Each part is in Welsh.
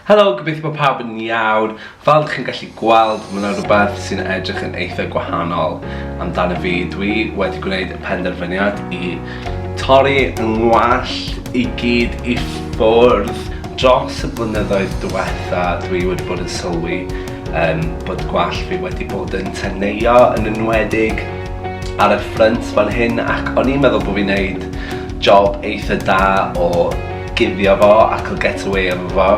Helo, gobeithio bod pawb yn iawn. Fel dych chi'n gallu gweld, mae yna rhywbeth sy'n edrych yn eitha gwahanol amdano fi. Dwi wedi gwneud y penderfyniad i torri yng ngwallt i gyd i ffwrdd. Dros y blynyddoedd diwetha, dwi wedi bod yn sylwi um, bod gwallt fi wedi bod yn teneuo, yn enwedig ar y ffrynt fan hyn, ac o'n i'n meddwl bod fi'n neud job eitha da o gifio fo ac o get away efo fo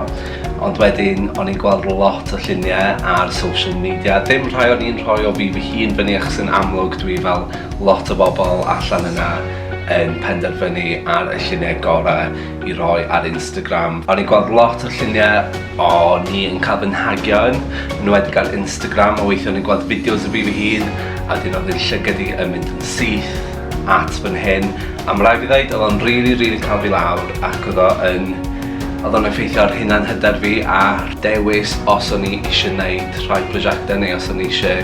ond wedyn o'n i'n gweld lot o lluniau ar social media dim rhai o'n i'n rhoi o fi fy hun fyny achos yn amlwg dwi fel lot o bobl allan yna yn penderfynu ar y lluniau gorau i roi ar Instagram o'n i'n gweld lot o lluniau o ni yn cael fy nhagio yn enwedig ar Instagram a weithio o'n i'n gweld fideos o fi fy hun a wedyn oedd yn llygad i yn mynd yn syth at fy nhên a ma' raid fi ddeud odd o'n rili rili cael fi lawr ac odd o yn odd o'n effeithio ar hunan hyder fi a dewis os o'n i isie neud rhai prosiecte neu os o'n i isie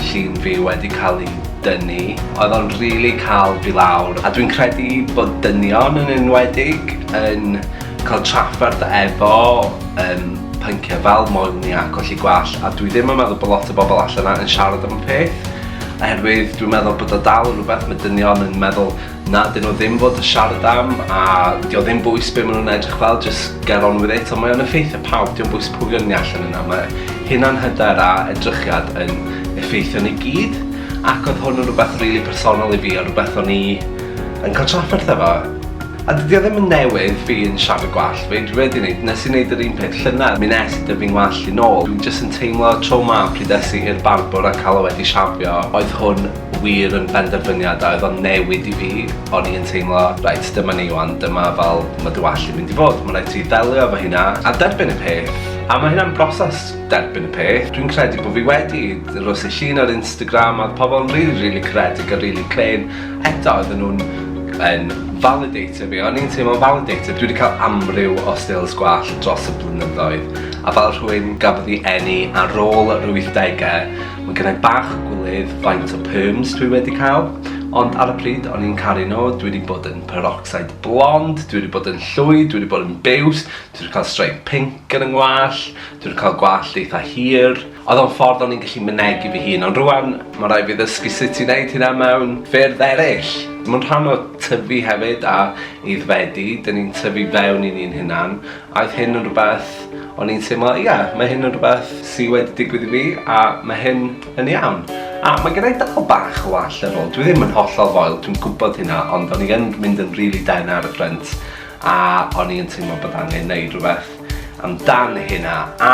llun fi wedi cael ei dynnu. Oedd o'n rili cael fi lawr a dwi'n credu bod dynion yn enwedig yn cael trafferth efo yym pynciau fel moel ni a colli gwallt a dwi ddim yn meddwl bod lot o bobl allan 'na yn siarad am y peth. Oherwydd dwi'n meddwl bod o dal yn rhywbeth mae dynion yn meddwl na dyn nhw ddim fod yn siarad am a dio ddim bwys be maen nhw'n edrych fel just get on with it ond mae o'n effeithio pawb dio bwys pwy o'n ni allan yna mae hunan hyder a edrychiad yn effeithio ni gyd ac oedd hwn yn rhywbeth rili personol i fi a rhywbeth o'n i yn cael trafferth efo. A dydi o ddim yn newydd fi yn siafio gwallt fi, dwi wedi neud, nes i neud yr un peth llynedd, mi nes i dyfu'n ngwallt i nôl, dwi jyst yn teimlo tro 'ma pryd es i i'r barbwr a ca'l o wedi shafio, oedd hwn wir yn benderfyniad a oedd o'n newid i fi, o'n i yn teimlo reit dyma ni 'wan, dyma fel ma' dy wallt di'n mynd i fod, ma' raid ti ddelio efo hynna a derbyn y peth, a ma' hynna'n broses derbyn y peth, dwi'n credu bo fi wedi, rhois y llun ar Instagram a oedd pobl yn rili rili caredig a rili clên, Eto oedden nhw'n yn validator fi, o'n i'n teimlo'n validator. Dwi wedi cael amryw o stills gwallt dros y blynyddoedd, a fel rhywun gafodd ei eni ar ôl yr 80au, mae gennau bach gwylydd faint o perms dwi wedi cael, ond ar y pryd o'n i'n caru nhw, dwi wedi bod yn peroxide blond, dwi wedi bod yn llwyd, dwi wedi bod yn biws, dwi wedi cael stripe pink yn 'y ngwallt, dwi wedi cael gwallt eitha hir, Oedd o'n ffordd o'n i'n gallu mynegi fy hun, ond rwan ma' raid fi ddysgu sut i wneud hynna mewn ffyrdd eraill. Mae'n rhan o tyfu hefyd a aeddfedu, 'dyn ni'n tyfu fewn i ni'n hunan, a oedd hyn yn rhywbeth o'n i'n teimlo, ie, mae hyn yn rhywbeth sy wedi digwydd i fi a mae hyn yn iawn. A mae gen i dal bach o wall ar ôl, dwi ddim yn hollol foel, dwi'n gwybod hynna, ond o'n i yn mynd yn rili dena ar y ffrynt a o'n i yn teimlo bod angen wneud rhywbeth. amdan hynna a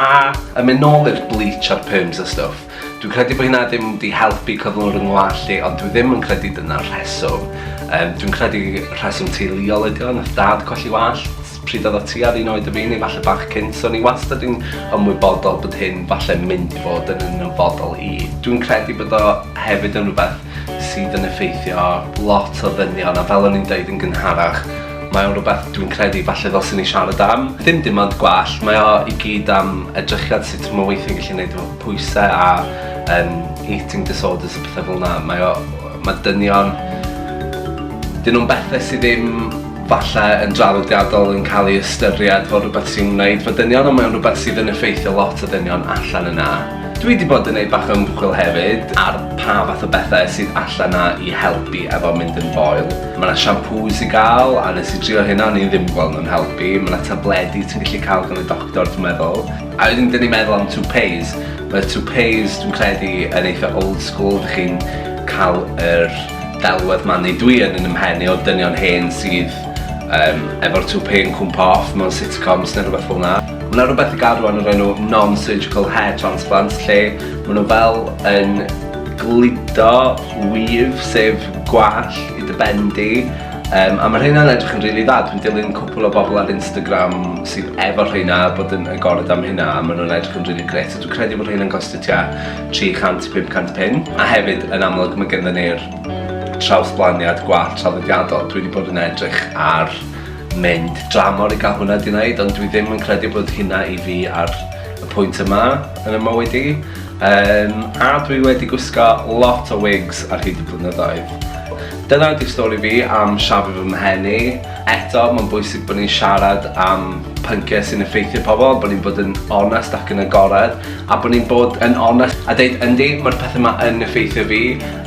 yn mynd nôl i'r bleach a'r perms a stwff dwi'n credu bod hynna ddim wedi helpu cyflwr yng ngwallt i ond dwi ddim yn credu dyna'r rheswm um, dwi'n credu rheswm teuluol ydi o'n nath dad colli wallt pryd oedd o ti ar un oed y fi neu falle bach cynt so ni wastad yn ymwybodol bod hyn falle mynd i fod yn ymwybodol i dwi'n credu bod o hefyd yn rhywbeth sydd yn effeithio lot o ddynion a fel o'n i'n dweud yn gynharach mae o'n rhywbeth dwi'n credu falle ddylswn ni siarad am. Dim dim ond gwell, mae o i gyd am edrychiad sut mae weithio'n gallu gwneud efo pwysau a um, eating disorders a pethau fel yna. Mae, o, mae dynion... Dyn nhw'n bethau sydd ddim falle yn draddodiadol yn cael ei ystyried fel rhywbeth sy'n wneud fy dynion ond mae'n rhywbeth sydd yn effeithio lot o dynion allan yna. Dwi wedi bod yn neud bach o ymchwil hefyd ar pa fath o bethau sydd allan 'na i helpu efo mynd yn foel. Mae 'na siampŵs i gael a nes i drio hynna o'n i ddim gweld nhw'n helpu, mae 'na tabledi ti'n gallu cael gan y doctor dwi'n meddwl. A wedyn 'dyn ni'n meddwl am toupees. Mae toupees dwi'n credu yn eitha' old school, dych chi'n cael yr Delwedd ma nid dwi yn yn ymhen i o dynion hen sydd um, efo'r toupee yn cwmpa off mewn sitcoms neu rhywbeth fel yna. Mae yna rhywbeth i gadw yn yr enw non-surgical hair transplants lle maen nhw fel yn gludo wyf sef gwall i dy ben di um, a mae rheina'n edrych yn rili really dda. Dwi'n dilyn cwpl o bobl ar Instagram sydd efo rheina bod yn agored am hynna a maen nhw'n edrych yn rili really gret a dwi'n credu bod rheina'n gostio tua 300, 500 pin, a hefyd yn amlwg mae gyda ni'r trawsblaniad gwallt traddodiadol. Dwi wedi bod yn edrych ar mynd dramor i gael hwnna di wneud, ond dwi ddim yn credu bod hynna i fi ar y pwynt yma yn y mywyd i. Um, a dwi wedi gwisgo lot o wigs ar hyd y blynyddoedd. Dyna ydy'r stori fi am siafu fy mhen i. Eto, mae'n bwysig bod ni'n siarad am pynciau sy'n effeithio pobl, bod ni'n bod yn onest ac yn agored, A bod ni'n bod yn onest a deud yndi mae'r pethau ma yn effeithio fi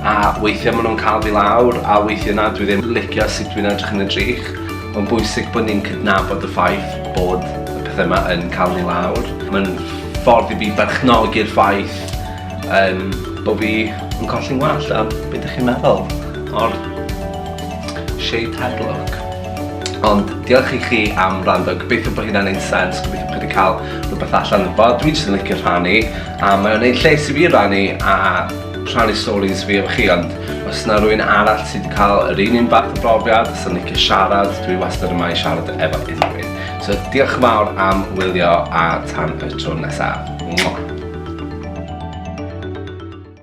a weithiau maen nhw'n cael fi lawr a weithiau na dwi ddim licio sut dwi'n edrych yn y drych. Mae'n bwysig bod ni'n cydnabod y ffaith bod y pethau ma yn cael ni lawr. Mae'n ffordd i fi berchnogi'r ffaith um, bod fi yn colli'n wallt a beth ydych chi'n meddwl o'r shaved head look? Ond diolch i chi am wrando, gobeithio bod hynna'n ein sens, gobeithio bod chi wedi cael rhywbeth allan yn bod. Dwi'n jyst yn licio rhannu, a mae'n gwneud lles i fi rhannu a rhannu stories fi efo chi, ond os yna rwy'n arall sydd wedi cael yr un un fath o brofiad, os yna'n licio siarad, dwi wastad yma i siarad efo unrhyw So diolch yn fawr am wylio a tan y tro nesaf. Mwah!